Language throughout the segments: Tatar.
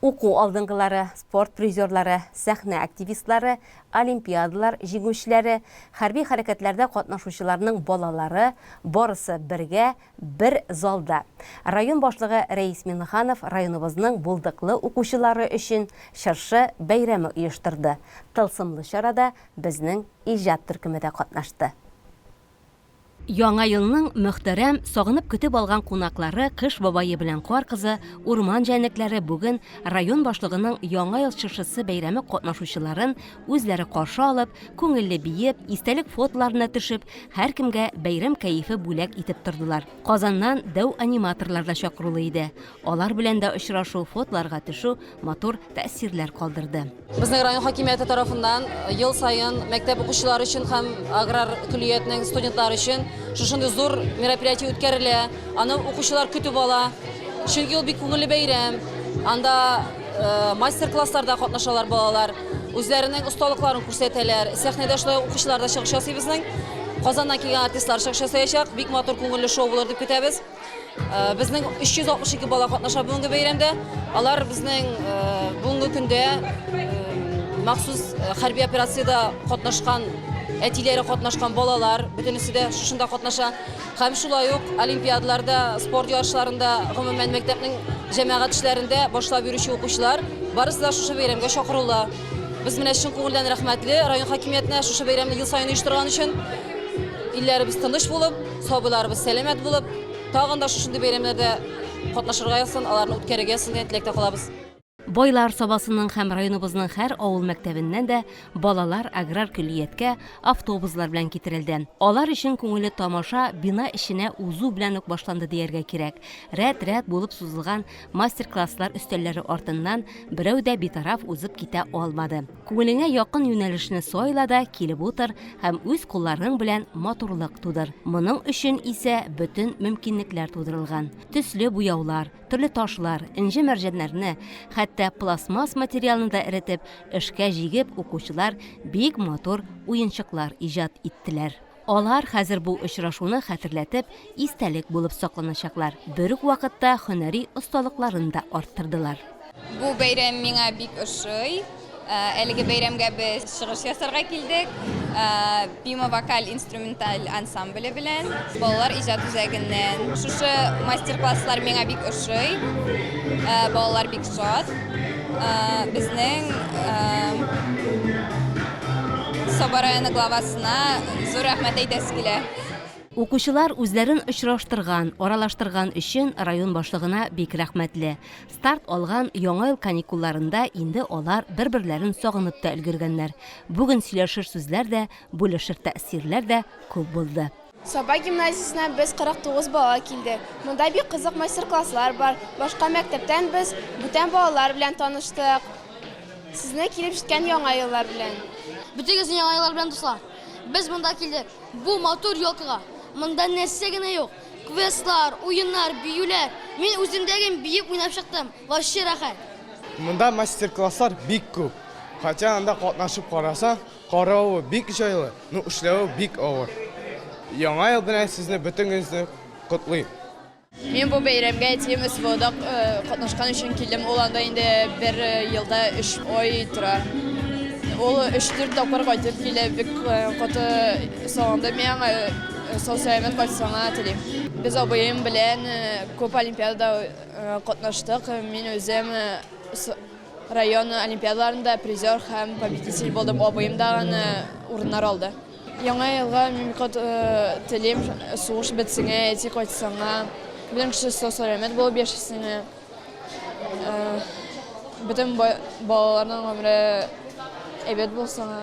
Уку алдынгылары, спорт призерлары, сәхнә активистлары, олимпиадалар җиңүчеләре, хәрби хәрәкәтләрдә катнашучыларның балалары, барысы бергә, бер залда. Район башлыгы Рәис Миңнеханов районыбызның булдыклы укучылары өчен чыршы бәйрәме оештырды. Тылсымлы чарада безнең иҗат төркеме дә катнашты. Яңа елның мөхтәрәм, сагынып көтеп алган кунаклары, Кыш бабае белән Кар кызы, Урман җәнлекләре бүген район башлыгының Яңа ел чыршысы бәйрәме катнашучыларын үзләре каршы алып, күңелле биеп, истәлек фотоларына төшеп, һәркемгә бәйрәм кәефе бүләк итеп тордылар. Казаннан дәү аниматорлар да чакырулы иде. Алар белән дә очрашу, фотоларга төшү, матур тәэсирләр калдырды. Безнең район хакимияте тарафыннан э, ел саен мәктәп укучылары өчен һәм аграр көллиятнең студентлары өчен шушындый зур мероприятие үткәрелә. Аны укучылар көтеп ала. Чөнки ул бик күңелле бәйрәм. Анда э, мастер-классларда катнашалар балалар, үзләренең осталыкларын күрсәтәләр. Сәхнәдә шулай укучылар да чыгыш ясый безнең. Казаннан килгән артистлар чыгыш ясаячак. Бик матур күңелле шоу булыр дип көтәбез. Безнең 362 бала катнаша бүгенге бәйрәмдә. Алар безнең бүгенге көндә махсус хәрби операциядә катнашкан әтиләре катнашкан балалар бөтенесе дә шушында катнаша һәм шулай ук олимпиадаларда спорт ярышларында гомумән мәктәпнең җәмәгать эшләрендә башлап йөрүче укучылар барысы да шушы бәйрәмгә чакырыла без менә чын күңелдән рәхмәтле район хакимиятенә шушы бәйрәмне ел саен оештырган өчен илләребез тыныч булып Сабыйларыбыз сәламәт булып, тагын да шушындый бәйрәмнәрдә катнашырга язсын, аларны үткәрергә язсын дигән теләктә калабыз. Байлар Сабасының һәм районыбызның һәр авыл мәктәбеннән дә балалар аграр көллияткә автобуслар белән китерелде. Алар өчен күңелле тамаша бина эченә узу белән үк башланды дияргә кирәк. Рәт-рәт булып сузылган мастер-класслар өстәлләре артыннан берәү дә битараф узып китә алмады. Күңелеңә якын юнәлешне сайла да килеп утыр һәм үз кулларың белән матурлык тудыр. Моның өчен исә бөтен мөмкинлекләр тудырылган. Төсле буяулар, төрле ташлар, энҗе-мәрҗәннәрне, хәтта пластмасс материалны да эретеп, эшкә җигеп, укучылар бик матур уенчыклар иҗат иттеләр. Алар хәзер бу очрашуны хәтерләтеп, истәлек булып сакланачаклар. Бер үк вакытта һөнәри осталыкларын да арттырдылар. Бу бәйрәм миңа бик ошый. Әлеге бәйрәмгә без чыгыш ясарга килдек. Бима вокаль-инструменталь ансамбле белән, балалар иҗат үзәгеннән. Шушы мастер-класслар миңа бик ошый. Балалар бик шат. Безнең Саба районы главасына зур рәхмәт әйтәсе килә. Укучылар үзләрен очраштырган, аралаштырган өчен район башлыгына бик рәхмәтле. Старт алган Яңа ел каникулларында инде алар бер-берләрен сагынып та өлгергәннәр. Бүген сөйләшер сүзләр дә, бүлешер тәэсирләр дә күп булды. Саба гимназиясеннән без 49 бала килдек. Монда бик кызык мастер-класслар бар. Башка мәктәптән без бүтән балалар белән таныштык. Сезне килеп җиткән Яңа еллар белән! Бөтегезне Яңа еллар белән, дуслар! Без монда килдек, бу матур елкага. Монда нәрсә генә юк! Квестлар, уеннар, биюләр. Мин үземдә гел биеп уйнап чыктым. Вообще рәхәт! Монда мастер-класслар бик күп. Хотя анда катнашып карасаң, Каравы бик җайлы, ну эшләве бик авыр. Яңа ел белән сезне бөтенегезне котлыйм. Мин бу бәйрәмгә әтием СВОда катнашкан өчен килдем. Ул анда инде бер елда өч ай тора. Ул өч-дүрт тапкыр кайтып килә. Бик каты сагындым мин аңа. Сау-сәламәт кайтсын гына телим. Без абыем белән күп олимпиадада катнаштык. Мин үзем Район олимпиадаларында призер һәм победитель булдым. Абыем да аны урыннар алды. Яңа елга мимикот телим, сугыш бетсеңә, әти кайтсаңа, белән кеше сау-сәламәт булып яшәсеңә. Бөтен балаларның гомере әйбәт булсаңа.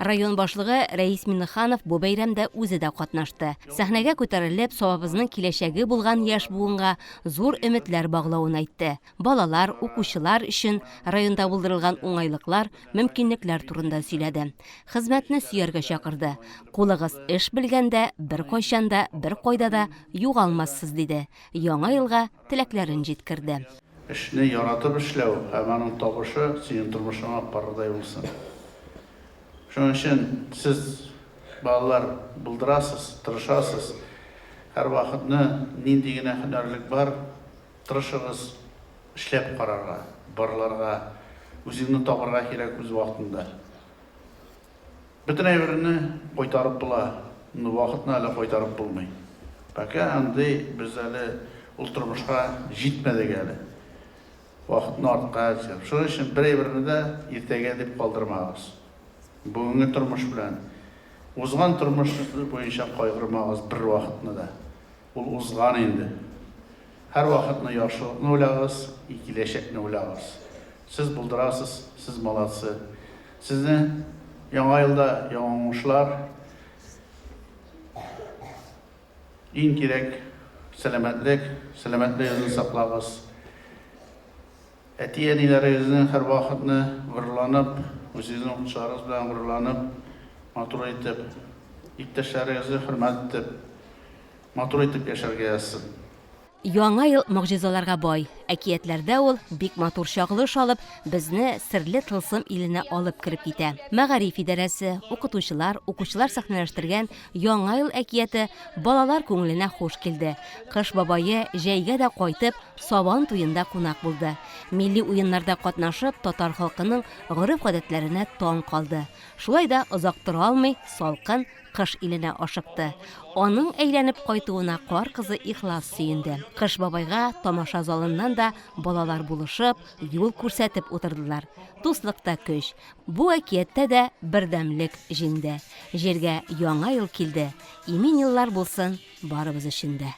Район башлыгы Рәис Миннеханов бу бәйрәмдә үзе дә катнашты. Сәхнәгә күтәрелеп, Сабабызның киләчәге булган яшь буынга зур өметләр баглавын әйтте. Балалар, укучылар өчен районда булдырылган уңайлыклар, мөмкинлекләр турында сөйләде. Хезмәтне сөяргә чакырды. Кулыгыз эш белгәндә, беркайчан да, беркайда да югалмассыз, диде. Яңа елга теләкләрен җиткерде. Эшне яратып эшләү һәм аның табышы синең тормышыңа парыдай булсын. Шуның өчен сез, балалар, булдырасыз, тырышасыз. Һәрвакытны нинди генә һөнәрлек бар, тырышыгыз эшләп карарга, барларга. Үзеңне табарга кирәк үз вакытында. Бөтен әйберне кайтарып була, но вакытны әле кайтарып булмый. Пока андый без әле ул тормышка җитмәдек әле. Вакытны артка әзер. Шуның өчен бер әйберне дә иртәгә дип калдырмагыз. Бүгенге тормыш белән узган тормыш буенча кайгырмагыз бервакытны да. Ул узган инде. Һәрвакытны яхшылыкны уйлагыз и киләчәкне уйлагыз. Сез булдырасыз, сез молодцы. Сезне яңа елда яңа уңышлар. Иң кирәк сәламәтлек, сәламәтлегезне саклагыз. Әти-әниләрегезнең һәрвакытны горурланып, үзегезнең укытучыларыгыз белән горурланып, матур итеп, иптәшләрегезне хөрмәт итеп, матур итеп яшәргә язсын. Яңа ел могҗизаларга бай. Әкиятләрдә ул, бик матур чагылыш алып, безне серле тылсым иленә алып кереп китә. Мәгариф идарәсе, укытучылар, укучылар сәхнәләштергән Яңа ел әкияте балалар күңеленә хуш килде. Кыш бабае җәйгә дә кайтып, Сабан туенда кунак булды. Милли уеннарда катнашып, татар халкының гореф-гадәтләренә таң калды. Шулай да озак тора алмый, салкын Кыш иленә ашыкты. Аның әйләнеп кайтуына кар кызы ихлас сөенде. Кыш бабайга тамаша залыннан да балалар булышып, юл күрсәтеп утырдылар. Дуслыкта көч. Бу әкияттә дә бердәмлек җиңде. Җиргә яңа ел килде, имин еллар булсын барыбыз өчен дә.